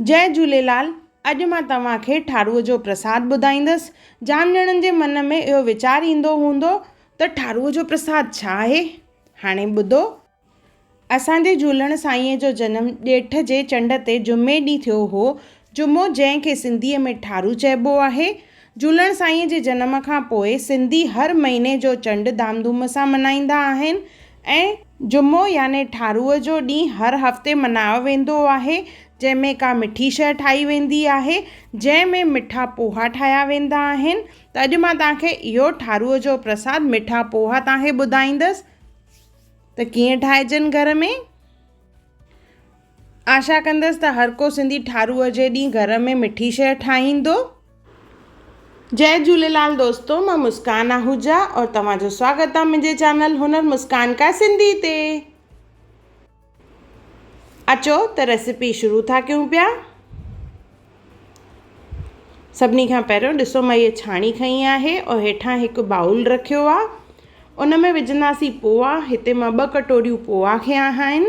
جئه جهوليلال اڄ مان توهان کي ٺاروء جو پرساد ٻڌائيندس. جام ڄڻن جي من ۾ اهو ويچار ايندو هوندو ته ٺاروء جو پرساد ڇا آهي؟ هاڻي ٻڌو. اسان جي جهولڻ سائينء جو جنم ڄيٺ جي چنڊ تي جمعي ڏينهن ٿيو هو. جمعو جنهن کي سنڌيء ۾ ٺارو چئبو آهي. جهولڻ سائينء جي جنم کان پوء سنڌي هر مهيني جو چنڊ ڌام ڌوم سان ملهائيندا آهن. ۽ جمعو يعني ٺارو جو ڏينهن هر هفتي ملهايو ويندو آهي جنهن ۾ ڪا مٺي شيء ٺاهي ويندي آهي جنهن ۾ مٺا پوها ٺاهيا ويندا آهن ته اڄ مان توهان کي اهو ٺارو جو پرساد مٺا پوها توهان کي ٻڌائيندس ته ڪيئن ٺاهجن گهر ۾ آشا ڪندس ته هر ڪو سنڌي ٺارو جي ڏينهن گهر ۾ مٺي شيء ٺاهيندو. جئي جهوليلال دوستو مان مسڪان آهوجا اور توهان جو سواگت آ منهنجي چينل هنر مسڪان ڪا سنڌي تي اچو ته ريسيپي شروع ٿا ڪيون پيا سڀني کان پهريون ڏسو مان هي ڇاڻي کئي آهي اور هيٺان هڪ باؤل رکيو آ ان ۾ وجهنداسين پوها هتي مان ٻه ڪٽوريون پوها کيا آهن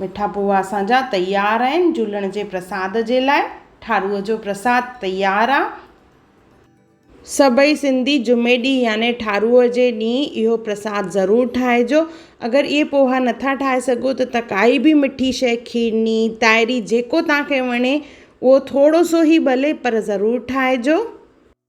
مٺا پوها اسان جا تيار آهن جهولڻ جي پرساد جي لاء ٺاروء جو پرساد تيار آ. سڀئي سنڌي جمعي ڏينهن يعني ٺاروء جي ڏينهن اهو پرساد ضرور ٺاهجو. اگر اهي پوها نٿا ٺاهي سگهو ته ته ڪائي به مٺي شيء کيرني، تائري جيڪو توهان کي وڻي اهو ٿورو سو هي ڀلي پر ضرور ٺاهجو.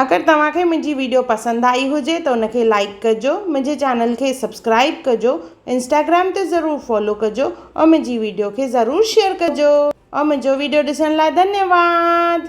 اگر توهان کي منهنجي ويڊيو پسند آئي هجي ته ان کي لائيڪ ڪجو منهنجي چينل کي سبسڪرائيب ڪجو انسٽاگرام تي ضرور فالو ڪجو ۽ منهنجي ويڊيو کي ضرور شيئر ڪجو ۽ منهنجو ويڊيو ڏسڻ لاء ڌنيواد.